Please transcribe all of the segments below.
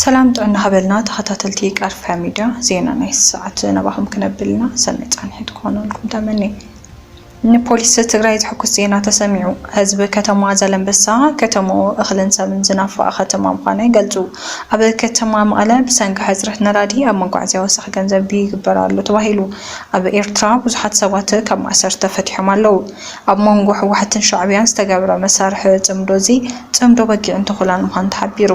ሰላም ጥዕና ሃበልና ተኸታተልቲ ቃርፋ ሚድያ ዜና ናይ ሰዓት ናባኹም ክነብልና ሰናይ ፃንሒት ክኾነልኩም ተመኒ ንፖሊስ ትግራይ ዝሕኩስ ዜና ተሰሚዑ። ህዝቢ ከተማ ዘለምበሳ ከተማኡ እኽልን ሰብን ዝናፈቐ ከተማ ምዃኑ ይገልጹ። ኣብ ከተማ መቐለ ብሰንኪ ሕጽረት ነዳዲ ኣብ መጓዓዝያ ወሰኽ ገንዘብ ይግበር ኣሎ ተባሂሉ። ኣብ ኤርትራ ብዙሓት ሰባት ካብ ማእሰርቲ ተፈቲሖም ኣለዉ። ኣብ መንጎ ህወሓትን ሻዕብያን ዝተገብረ መሳርሒ ጽምዶ እዚ ጽምዶ በጊዕን ተኹላን ምዃኑ ተሓቢሩ።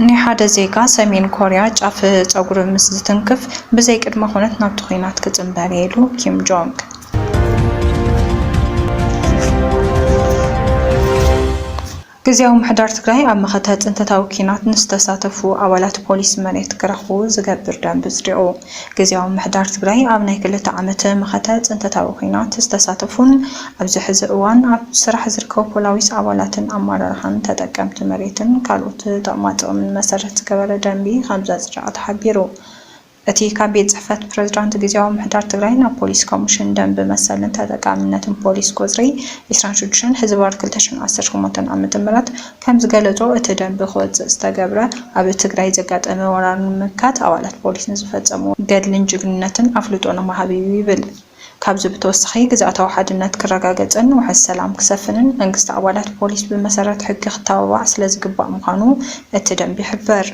ናይ ሓደ ዜጋ ሰሜን ኮርያ ጫፍ ጸጉሪ ምስ ዝትንክፍ ብዘይ ቅድመ ኩነት ናብቲ ኲናት ክጽንበር እየ ኢሉ ኪም ጆንግ። ግዝያዊ ምምሕዳር ትግራይ ኣብ መኸተ ፅንተታዊ ኲናት ንዝተሳተፉ ኣባላት ፖሊስ መሬት ክረኽቡ ዝገብር ደንቢ ኣፅዲቑ። ግዝያዊ ምምሕዳር ትግራይ ኣብ ናይ ክልተ ዓመት መኸተ ፅንተታዊ ኲናት ዝተሳተፉን ኣብዚ ሕዚ እዋን ኣብ ስራሕ ዝርከቡ ፖላዊስ ኣባላትን ኣመራርሓን ተጠቀምቲ መሬትን ካልኦት ጠቕማጥቕምን መሰረት ዝገበረ ደንቢ ከምዘፅደቐ ተሓቢሩ። እቲ ካብ ቤት ፅሕፈት ፕረዝዳንት ግዝያዊ ምምሕዳር ትግራይ ናብ ፖሊስ ኮምሽን ደንቢ መሰልን ተጠቃምነትን ፖሊስ ቁፅሪ ዕስራን ሽዱሽተን ሕዝባር ክልተ ሽሕን ዓሰርተ ሸሞንተን ዓመተ ምህረት ከምዝገለፆ እቲ ደንቢ ክወፅእ ዝተገብረ ኣብ ትግራይ ዘጋጠመ ወራር ንምምካት ኣባላት ፖሊስ ንዝፈፀምዎ ገድልን ጅግንነትን ኣፍልጦ ንምሃብ እዩ ይብል። ካብዚ ብተወሳኺ ግዝኣታዊ ሓድነት ክረጋገፅን ውሕስ ሰላም ክሰፍንን መንግስቲ ኣባላት ፖሊስ ብመሰረት ሕጊ ክተባባዕ ስለዝግባእ ምዃኑ እቲ ደንቢ ይሕብር።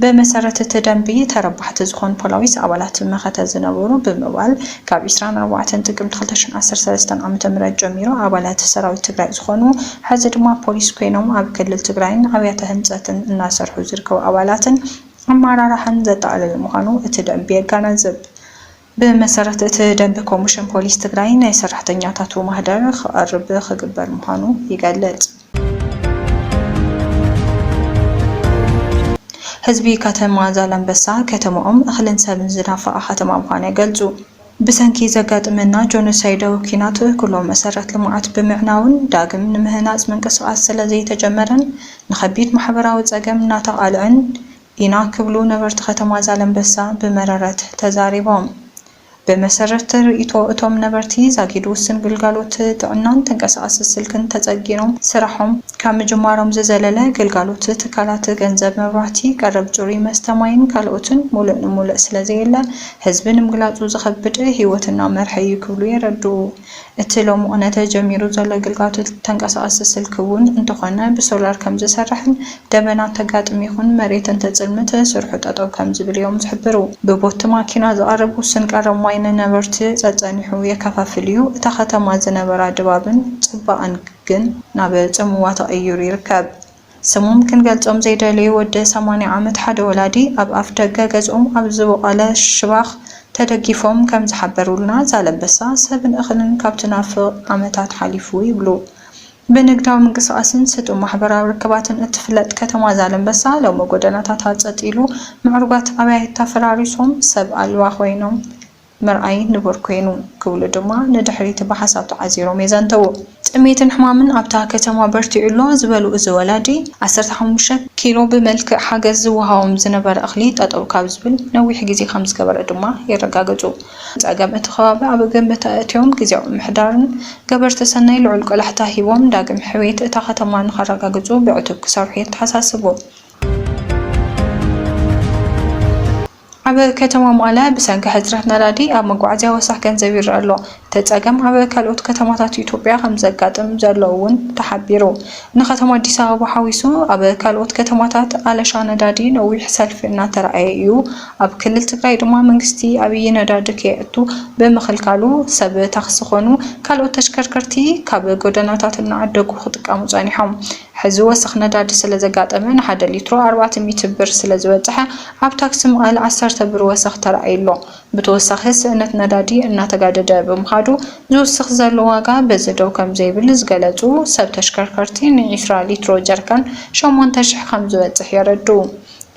ብመሰረት እቲ ደንቢ ተረባሕቲ ዝኾኑ ፖላዊስ ኣባላት መኸተ ዝነበሩ ብምባል ካብ ዕስራን ኣርባዕተን ጥቅምቲ ክልተ ሽሕ ዓሰርተ ሰለስተ ዓመተ ምህረት ጀሚሩ ኣባላት ሰራዊት ትግራይ ዝኾኑ ሐዚ ድማ ፖሊስ ኮይኖም ኣብ ክልል ትግራይን ኣብያተ ህንፀትን እናሰርሑ ዝርከቡ ኣባላትን ኣመራርሓን ዘጠቓለለ ምዃኑ እቲ ደንቢ የጋናዝብ። ብመሰረት እቲ ደንቢ ኮሚሽን ፖሊስ ትግራይ ናይ ሰራሕተኛታቱ ማህደር ክቐርብ ክግበር ምዃኑ ይገልፅ። ህዝቢ ከተማ ዛላምበሳ ከተመኦም እኽልን ሰብን ዝናፈቓ ከተማ ምዃና ይገልፁ። ብሰንኪ ዘጋጥመና ጆኖሳይዳዊ ኲናት ኩሎም መሰረት ልምዓት ብምዕናውን ዳግም ንምህናፅ ምንቅስቓስ ስለዘይተጀመረን ንኸቢድ ማሕበራዊ ፀገም እናተቓልዐን ኢና ክብሉ ነበርቲ ከተማ ዛለምበሳ ብመረረት ተዛሪቦም። ብመሰረት ርእይቶ እቶም ነበርቲ ዛጊድ ውስን ግልጋሎት ጥዕናን ተንቀሳቓሲ ስልክን ተፀጊኖም ስራሖም ካብ ምጅማሮም ዝዘለለ ግልጋሎት ትካላት ገንዘብ መብራህቲ ቀረብ ፅሩይ መስተ ማይን ካልኦትን ሙሉእ ንሙልእ ስለዘየለ ህዝቢ ንምግላፁ ዝኸብድ ህይወት እናመርሐ እዩ ክብሉ የረድኡ። እቲ ሎምቕነ ተጀሚሩ ዘሎ ግልጋቶት ተንቀሳቐሲ ስልኪ እውን እንተኾነ ብሶላር ከምዝሰርሕን ደበና እንተጋጥም ይኹን መሬት እንተፅልምት ስርሑ ጠጠው ከምዝብል እዮም ዝሕብሩ። ብቦቲ ማኪና ዝቐርብ ውሱን ቀረብ ማይ ንነበርቲ ፀፀኒሑ የከፋፍል እዩ፣ እታ ከተማ ዝነበራ ድባብን ፅባቐን ግን ናብ ፅምዋ ተቐይሩ ይርከብ። ስሞም ክንገልጾም ዘይደለዩ ወዲ ሰማንያ ዓመት ሓደ ወላዲ ኣብ ኣፍደገ ገዝኦም ኣብ ዝቦቖለ ሽባኽ ተደጊፎም ከም ዝሓበሩልና ዛላምበሳ ሰብን እኽልን ካብ ትናፍቕ ዓመታት ሓሊፉ ይብሉ። ብንግዳዊ ምንቅስቓስን ስጡም ማሕበራዊ ርክባትን እትፍለጥ ከተማ ዛላምበሳ ሎሚ ጎደናታታ ጸጥ ኢሉ ምዕሩጋት ኣባይታ ፈራሪሶም ሰብ ኣልባ ኮይኖም ምርኣይ ንቡር ኮይኑ ክብሉ ድማ ንድሕሪት ብሓሳብ ተዓዚሮም የዘንተዉ። ጥሜትን ሕማምን ኣብታ ከተማ በርቲዑ ኣሎ ዝበሉ እዚ ወላዲ፣ ዓሰርተ ሓሙሽተ ኪሎ ብመልክዕ ሓገዝ ዝወሃቦም ዝነበረ እኽሊ ጠጠው ካብ ዝብል ነዊሕ ግዜ ከምዝገበረ ድማ የረጋግፁ። ፀገም እቲ ከባቢ ኣብ ግምት ኣእትዮም ግዝያዊ ምምሕዳርን ገበርቲ ሰናይ ልዑል ቆላሕታ ሂቦም ዳግም ሕውየት እታ ከተማ ንኸረጋግፁ ብዕቱብ ክሰርሑ የተሓሳስቡ። ኣብ ከተማ መቐለ ብሰንኪ ሕፅረት ነዳዲ ኣብ መጓዓዝያ ወሰኽ ገንዘብ ይረኣ ኣሎ። እቲ ፀገም ኣብ ካልኦት ከተማታት ኢትዮጵያ ከምዘጋጥም ዘሎ እውን ተሓቢሩ። ንከተማ ኣዲስ ኣበባ ሓዊሱ ኣብ ካልኦት ከተማታት ኣለሻ ነዳዲ ነዊሕ ሰልፊ እናተርኣየ እዩ። ኣብ ክልል ትግራይ ድማ መንግስቲ ኣብይ ነዳዲ ከየእቱ ብምኽልካሉ ሰብ ታክሲ ኮኑ ካልኦት ተሽከርከርቲ ካብ ጎደናታት እናዓደጉ ክጥቀሙ ፀኒሖም። ሕዚ ወሰኽ ነዳዲ ስለ ዘጋጠመ ንሓደ ሊትሮ ኣርባዕተ ሚእቲ ብር ስለ ዝበፀሐ ኣብ ታክሲ መቐለ ዓሰርተ ብር ወሰኽ ተራእዩ ኣሎ። ብተወሳኺ ስእነት ነዳዲ እናተጋደደ ብምኻዱ ዝውስኽ ዘሎ ዋጋ በዚ ደው ከም ዘይብል ዝገለፁ ሰብ ተሽከርከርቲ ንዒስራ ሊትሮ ጀሪካን ሸሞንተ ሽሕ ከም ዝበፅሕ የረድኡ።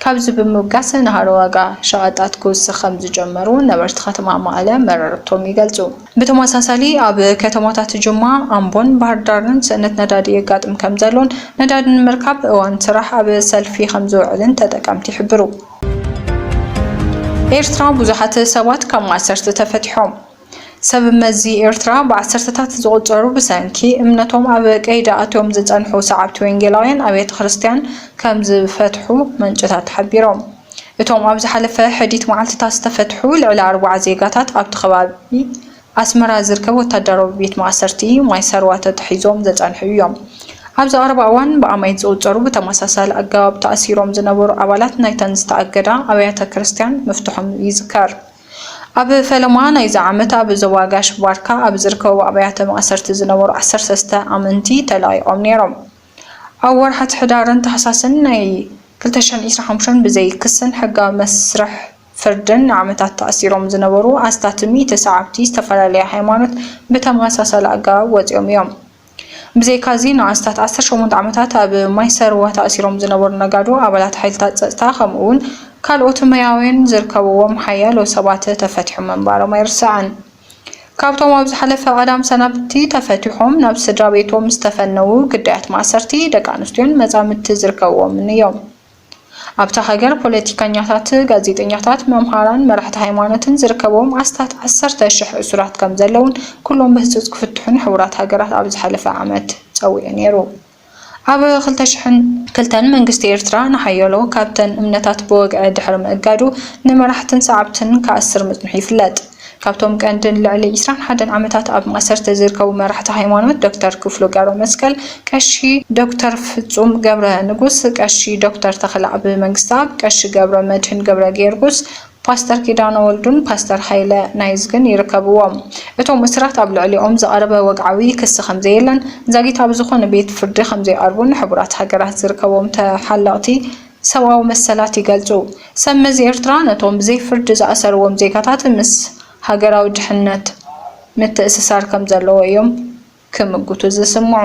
ካብዚ ብምብጋስ ንሃሮ ዋጋ ሸቐጣት ክውስኽ ከምዝጀመሩ ነበርቲ ከተማ መቐለ መረረቶም ይገልፁ። ብተመሳሳሊ ኣብ ከተማታት ጅማ፣ ኣምቦን ባህርዳርን ስእነት ነዳዲ የጋጥም ከምዘሎን ነዳዲ ንምርካብ እዋን ስራሕ ኣብ ሰልፊ ከምዝውዕልን ተጠቀምቲ ይሕብሩ። ኤርትራ፣ ብዙሓት ሰባት ካብ ማእሰርቲ ተፈቲሖም። ሰብ መዚ ኤርትራ ብዓሰርተታት ዝቑጸሩ ብሰንኪ እምነቶም ኣብ ቀይዲ ኣትዮም ዝጸንሑ ሰዓብቲ ወንጌላውያን ኣብያተ ክርስትያን ከም ዝፈትሑ ምንጭታት ሓቢሮም። እቶም ኣብ ዝሓለፈ ሕዲት መዓልትታት ዝተፈትሑ ልዕሊ ኣርብዓ ዜጋታት ኣብቲ ከባቢ ኣስመራ ዝርከብ ወታደራዊ ቤት ማእሰርቲ ማይሰርዋ ተታሒዞም ዘጸንሑ እዮም። ኣብዚ ቀረባ እዋን ብኣማኢት ዝቑጸሩ ብተመሳሳሊ ኣገባብ ተኣሲሮም ዝነበሩ ኣባላት ናይተን ዝተኣገዳ ኣብያተ ክርስትያን ምፍትሖም ይዝከር። ኣብ ፈለማ ናይዚ ዓመት ኣብ ዞባ ጋሽ ባርካ ኣብ ዝርከቡ ኣብያተ ማእሰርቲ ዝነበሩ ዓሰርተ ሰለስተ ኣመንቲ ተለቒቖም ነይሮም። ኣብ ወርሓት ሕዳርን ታሕሳስን ናይ ክልተ ሽሕን ዒስራን ሓሙሽተን ብዘይ ክስን ሕጋዊ መስርሕ ፍርድን ንዓመታት ተኣሲሮም ዝነበሩ ኣስታት ሚእቲ ሰዓብቲ ዝተፈላለየ ሃይማኖት ብተመሳሳሊ ኣገባብ ወጺኦም እዮም። ብዘይካ'ዚ ንኣስታት ዓሰርተ ሸሞንተ ዓመታት ኣብ ማይሰርዋ ተኣሲሮም ዝነበሩ ነጋዶ፣ ኣባላት ሓይልታት ጸጥታ ከምኡ'ውን ካልኦት መያውያን ዝርከብዎም ሓያሎ ሰባት ተፈቲሖም ምንባሮም ኣይርሳዕን። ካብቶም ኣብ ዝሓለፈ ቀዳም ሰናብቲ ተፈቲሖም ናብ ስድራቤቶም ዝተፈነዉ ግዳያት ማእሰርቲ፣ ደቂ ኣንስትዮን መጻምድቲ ዝርከብዎምን እዮም። ኣብታ ሃገር ፖለቲከኛታት፣ ጋዜጠኛታት፣ መምሃራን መራሕቲ ሃይማኖትን ዝርከብዎም ኣስታት ዓሰርተ ሽሕ እሱራት ከምዘለዉን ኩሎም ብህጹጽ ክፍትሑን ሕቡራት ሃገራት ኣብ ዝሓለፈ ዓመት ጸዊዑ ነይሩ። ኣብ ክልተ ሽሕን ክልተን መንግስቲ ኤርትራ ንሓያሎ ካብተን እምነታት ብወግዒ ድሕሪ ምእጋዱ ንመራሕትን ሰዓብትን ክኣስር ምጽንሑ ይፍለጥ። ካብቶም ቀንድን ልዕሊ ዕስራን ሓደን ዓመታት ኣብ ማእሰርቲ ዝርከቡ መራሕቲ ሃይማኖት ዶክተር ክፍሉ ገብረመስቀል፣ ቀሺ ዶክተር ፍፁም ገብረንጉስ፣ ቀሺ ዶክተር ተኽለኣብ መንግስተኣብ፣ ቀሺ ገብረመድህን ገብረጌርጉስ፣ ፓስተር ኪዳነ ወልዱን ፓስተር ሃይለ ናይዝግን ይርከብዎም። እቶም እሱራት ኣብ ልዕሊኦም ዝቐረበ ወግዓዊ ክሲ ከምዘየለን ዛጊት ኣብ ዝኾነ ቤት ፍርዲ ከምዘይቐርቡን ሕቡራት ሃገራት ዝርከቦም ተሓለቕቲ ሰብኣዊ መሰላት ይገልጹ። ሰብ መዚ ኤርትራ ነቶም ብዘይ ፍርዲ ዝኣሰርዎም ዜጋታት ምስ ሃገራዊ ድሕነት ምትእስሳር ከም ዘለዎ እዮም ክምጉቱ ዝስምዑ።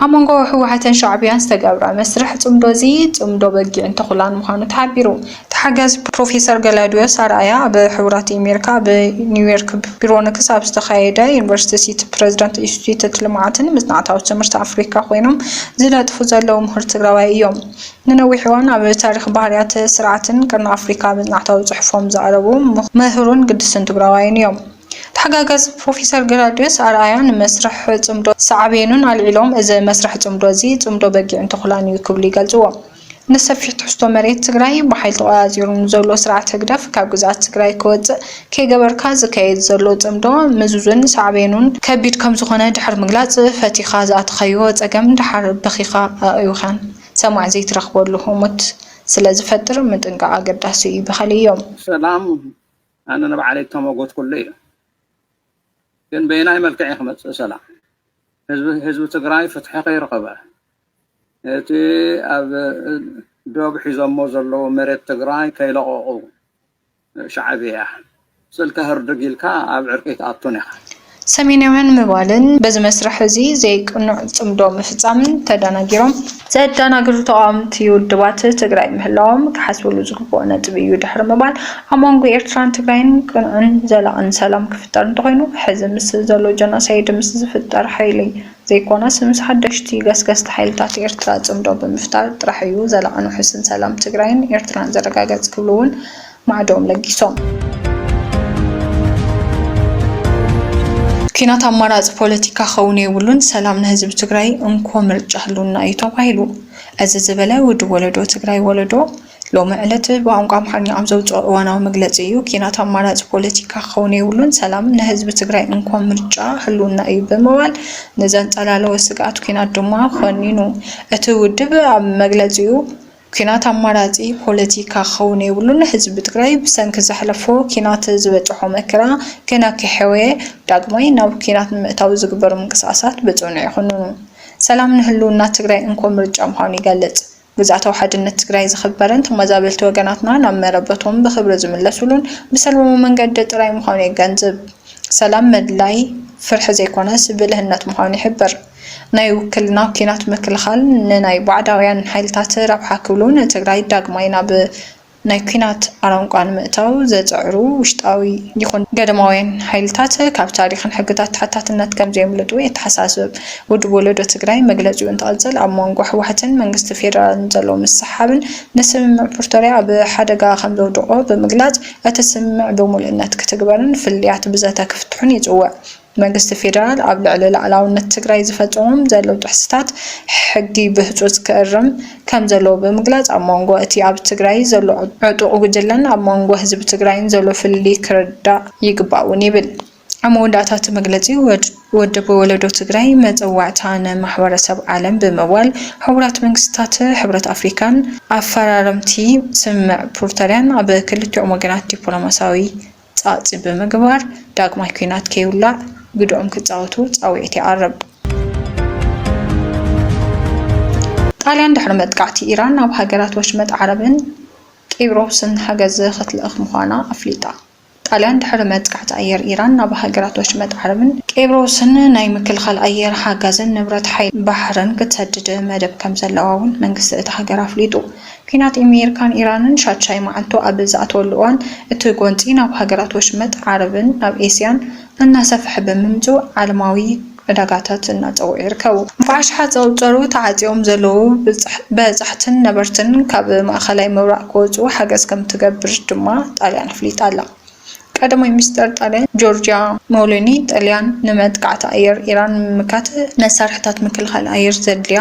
ኣብ መንጎ ህወሓትን ሻዕብያን ዝተገብረ መስርሕ ጽምዶ'ዚ፣ ጽምዶ በጊዕን ተኹላን ምዃኑ ተሓቢሩ። ተሓጋዚ ፕሮፌሰር ገላውድዮስ ኣርኣያ ኣብ ሕቡራት ኣሜሪካ ኣብ ኒውዮርክ ቢሮንክስ ኣብ ዝተኻየደ ዩኒቨርሲቲ ሲቲ ፕረዚደንት ኢንስቲትዩት ልምዓትን መፅናዕታዊ ትምህርቲ ኣፍሪካ ኮይኖም ዝነጥፉ ዘለዉ ምሁር ትግራዋይ እዮም። ንነዊሕ እዋን ኣብ ታሪኽ ባህርያት ስርዓትን ቀርኒ ኣፍሪካ መፅናዕታዊ ፅሑፎም ዘቕረቡ ምሁርን ግድስን ትግራዋይን እዮም። ተሓጋጋዚ ፕሮፌሰር ገላውድዮስ ኣርኣያ ንመስርሕ ፅምዶ ሳዕቤኑን ኣልዒሎም እዚ መስርሕ ፅምዶ እዚ ፅምዶ በጊዕን ተኹላን እዩ ክብሉ ይገልፅዎ። ንሰፊሕ ትሕዝቶ መሬት ትግራይ ብሓይሊ ተቖፃፂሩ ንዘሎ ስርዓት ህግደፍ ካብ ግዝኣት ትግራይ ክወፅእ ከይገበርካ ዝካየድ ዘሎ ፅምዶ ምዙዝን ሳዕቤኑን ከቢድ ከምዝኾነ ድሕሪ ምግላፅ ፈቲኻ ዝኣተኻዮ ፀገም ደሓር በኺኻ ኣእዊኻን ሰማዒ ዘይትረኽበሉ ህሞት ስለዝፈጥር ምጥንቃቕ ኣገዳሲ እዩ በኸለዮ። ሰላም ኣነ ንባዕለይ እተመጎትኩሉ እዩ ግን በየናይ መልክዕ እዩ ክመፅእ ሰላም ህዝቢ ትግራይ ፍትሒ ከይረኸበ እቲ ኣብ ዶብ ሒዞሞ ዘለዉ መሬት ትግራይ ከይለቐቑ ሻዕብያ ስልካ ህርድግ ኢልካ ኣብ ዕርቂ ኣይትኣቱን ኢኻ። ሰሜናውያን ምባልን በዚ መስርሕ እዚ ዘይቅኑዕ ጽምዶ ምፍጻምን ተዳናጊሮም፣ ዘዳናግሩ ተቓወምቲ ውድባት ትግራይ ምህላዎም ክሓስበሉ ዝግብኦ ነጥቢ እዩ ድሕሪ ምባል ኣብ መንጎ ኤርትራን ትግራይን ቅኑዕን ዘላቕን ሰላም ክፍጠር እንተኾይኑ ሕዚ ምስ ዘሎ ጀኖሳይድ ምስ ዝፍጠር ሓይሊ ዘይኮነስ ምስ ሓደሽቲ ገስገስቲ ሓይልታት ኤርትራ ጽምዶ ብምፍጣር ጥራሕ እዩ ዘላቕን ውሑስን ሰላም ትግራይን ኤርትራን ዝረጋገጽ ክብሉ እውን ማዕድኦም ለጊሶም። ኲናት ኣማራጺ ፖለቲካ ክኸውን የብሉን፣ ሰላም ንህዝቢ ትግራይ እንኮ ምርጫ ህልውና እዩ ተባሂሉ። እዚ ዝበለ ውድብ ወለዶ ትግራይ ወለዶ፣ ሎሚ ዕለት ብቋንቋ ኣምሓርኛ ኣብ ዘውፀኦ እዋናዊ መግለፂ እዩ። ኲናት ኣማራፂ ፖለቲካ ክኸውን የብሉን፣ ሰላም ንህዝቢ ትግራይ እንኮ ምርጫ ህልውና እዩ ብምባል ንዘንፀላለወ ስግኣት ኲናት ድማ ኾኒኑ። እቲ ውድብ ኣብ መግለፂኡ፣ ኲናት ኣማራፂ ፖለቲካ ክኸውን የብሉን፣ ህዝቢ ትግራይ ብሰንኪ ዘሕለፎ ኲናት ዝበፀሖ መከራ ገና ከይሐወየ ዳግማይ ናብ ኲናት ንምእታው ዝግበሩ ምንቅስቓሳት ብፅኑዕ ይኹንኑ፣ ሰላም ንህልውና ትግራይ እንኮ ምርጫ ምዃኑ ይገልፅ። ግዝኣታዊ ሓድነት ትግራይ ዝኽበርን ተመዛበልቲ ወገናትና ናብ መረበቶም ብኽብሪ ዝምለሱሉን ብሰላማዊ መንገዲ ጥራይ ምዃኑ የገንዝብ። ሰላም ምድላይ ፍርሒ ዘይኮነስ ብልህነት ምዃኑ ይሕብር። ናይ ውክልና ኲናት ምክልኻል ንናይ ባዕዳውያን ሓይልታት ረብሓ ክብሉ ንትግራይ ዳግማይ ናብ ናይ ኲናት ኣረንቋ ንምእታው ዘጸዕሩ ውሽጣዊ ይኹን ገደማውያን ሓይልታት ካብ ታሪኽን ሕግታት ተሓታትነት ከምዘየምልጡ የተሓሳስብ። ውድብ ወለዶ ትግራይ መግለጺኡ እንትቕጽል፣ ኣብ መንጎ ህወሓትን መንግስቲ ፌደራልን ዘሎ ምስሕሓብን ንስምምዕ ፕርቶርያ ኣብ ሓደጋ ከምዘውድቖ ብምግላጽ፣ እቲ ስምምዕ ብምሉእነት ክትግበርን ፍልልያት ብዘተ ክፍትሑን ይጽውዕ። መንግስቲ ፌደራል ኣብ ልዕሊ ላዕላውነት ትግራይ ዝፈፀሞም ዘለው ጥሕስታት ሕጊ ብህፁፅ ክእርም ከምዘለዎ ብምግላፅ ኣብ ሞንጎ እቲ ኣብ ትግራይ ዘሎ ዕጡቕ ጉጅለን ኣብ ሞንጎ ህዝቢ ትግራይን ዘሎ ፍልልይ ክርዳእ ይግባእ እውን ይብል። ኣብ መወዳእታ እቲ መግለፂ ወድብ ወለዶ ትግራይ መፀዋዕታ ንማሕበረሰብ ዓለም ብምባል ሕቡራት መንግስታት፣ ሕብረት ኣፍሪካን ኣፈራረምቲ ስምምዕ ፕሩተርያን ኣብ ክልቲኦም ወገናት ዲፕሎማሲያዊ ጸቕጢ ብምግባር ዳግማይ ኲናት ከይውላዕ ግደኦም ክጻወቱ ጻውዒት ይቐርብ። ጣልያን ድሕሪ መጥቃዕቲ ኢራን ናብ ሃገራት ወሽመጥ ዓረብን ቂብሮስን ሓገዝ ክትልእኽ ምዃና ኣፍሊጣ። ጣልያን ድሕሪ መጥቃዕቲ ኣየር ኢራን ናብ ሃገራት ወሽመጥ ዓረብን ቂብሮስን ናይ ምክልኻል ኣየር ሓጋዝን ንብረት ሓይሊ ባሕርን ክትሰድድ መደብ ከምዘለዋ'ውን መንግስቲ እታ ሃገር ኣፍሊጡ። ኲናት ኤሜሪካን ኢራንን ሻድሻይ መዓልቱ ኣብ ዝኣትወሉ እዋን፣ እቲ ጎንጺ ናብ ሃገራት ወሽመጥ ዓረብን ናብ ኤስያን እናሰፍሐ ብምምጽኡ ዓለማዊ ዕዳጋታት እናጸውዑ ይርከቡ። ብኣሽሓት ዝቑጸሩ ተዓጽዮም ዘለዉ በጻሕትን ነበርትን ካብ ማእከላይ ምብራቕ ክወጽኡ ሓገዝ ከምትገብር ድማ ጣልያን ኣፍሊጣ ኣላ። ቀዳማይ ሚኒስተር ጣልያን ጆርጅያ ሞሎኒ፣ ጣልያን ንመጥቃዕቲ ኣየር ኢራን ንምምካት መሳርሒታት ምክልኻል ኣየር ዘድልያ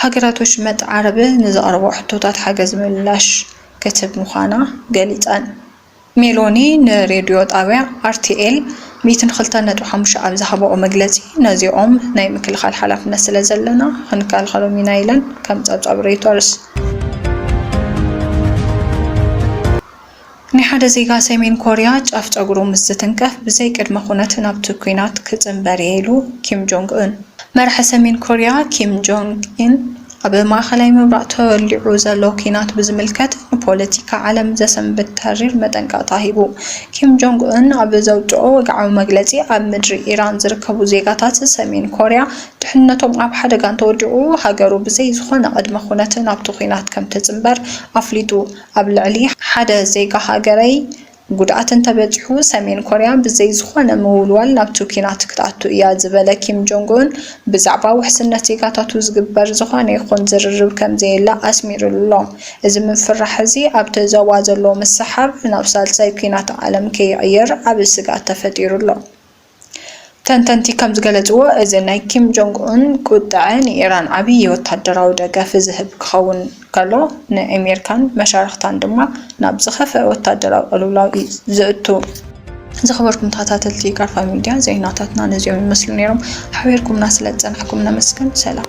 ሃገራት ወሽመጥ ዓረብ ንዘቕረብኦ ሕቶታት ሓገዝ ምላሽ ክትህብ ምዃና ገሊጸን። ሜሎኒ ንሬድዮ ጣብያ ኣርቲኤል ሚእትን ክልተን ነጥቢ ሓሙሽተ ኣብ ዝሃባኦ መግለጺ፣ ነዚኦም ናይ ምክልኻል ሓላፍነት ስለዘለና ክንከላኸሎም ኢና ኢለን ከም ጸብጻብ ሮይተርስ። ናይ ሓደ ዜጋ ሰሜን ኮርያ ጫፍ ጨጉሩ ምስ ዝትንከፍ ብዘይ ቅድመ ኩነት ናብቲ ኲናት ክጽንበር'የ ኢሉ ኪም ጆንግ ኡን። መራሒ ሰሜን ኮርያ ኪም ጆንግ ኡን ኣብ ማእከላይ ምብራቕ ተወሊዑ ዘሎ ኲናት ብዝምልከት ንፖለቲካ ዓለም ዘሰንብድ ተሪር መጠንቀቕታ ሂቡ። ኪም ጆንግ ኡን ኣብ ዘውጽኦ ወግዓዊ መግለጺ ኣብ ምድሪ ኢራን ዝርከቡ ዜጋታት ሰሜን ኮርያ ድሕንነቶም ኣብ ሓደጋ እንተወዲቑ ሃገሩ ብዘይ ዝኾነ ቅድመ ኩነት ናብቲ ኲናት ከምትጽንበር ኣፍሊጡ። ኣብ ልዕሊ ሓደ ዜጋ ሃገረይ ጉድኣት እንተበጺሑ፣ ሰሜን ኮርያ ብዘይ ዝኾነ ምውልዋል ናብቲ ኲናት ክትኣቱ እያ ዝበለ ኪም ጆንግ-ኡን፣ ብዛዕባ ውሕስነት ዜጋታቱ ዝግበር ዝኾነ ይኹን ዝርርብ ከምዘየለ ኣስሚሩሉ'ሎ። እዚ ምፍርራሕ እዚ ኣብቲ ዞባ ዘሎ ምስሕሓብ ናብ ሳልሳይ ኲናት ዓለም ከይቕየር ዓቢ ስግኣት ተፈጢሩ'ሎ። ተንተንቲ ከም ዝገለጽዎ፣ እዚ ናይ ኪም ጆንግ ኡን ቁጥዐ ንኢራን ዓብዪ ወተሃደራዊ ደገፍ ዝህብ ክኸውን ከሎ፣ ንኣሜሪካን መሻርኽታን ድማ ናብ ዝኸፍኣ ወተሃደራዊ ቅልውላው እዩ ዘእቱ። ዝኸበርኩም ተኸታተልቲ ጋርፋ ሚድያ ዜናታትና ነዚኦም ይመስሉ ነይሮም። ሓቢርኩምና ስለ ዝጸናሕኩም ነመስግን። ሰላም።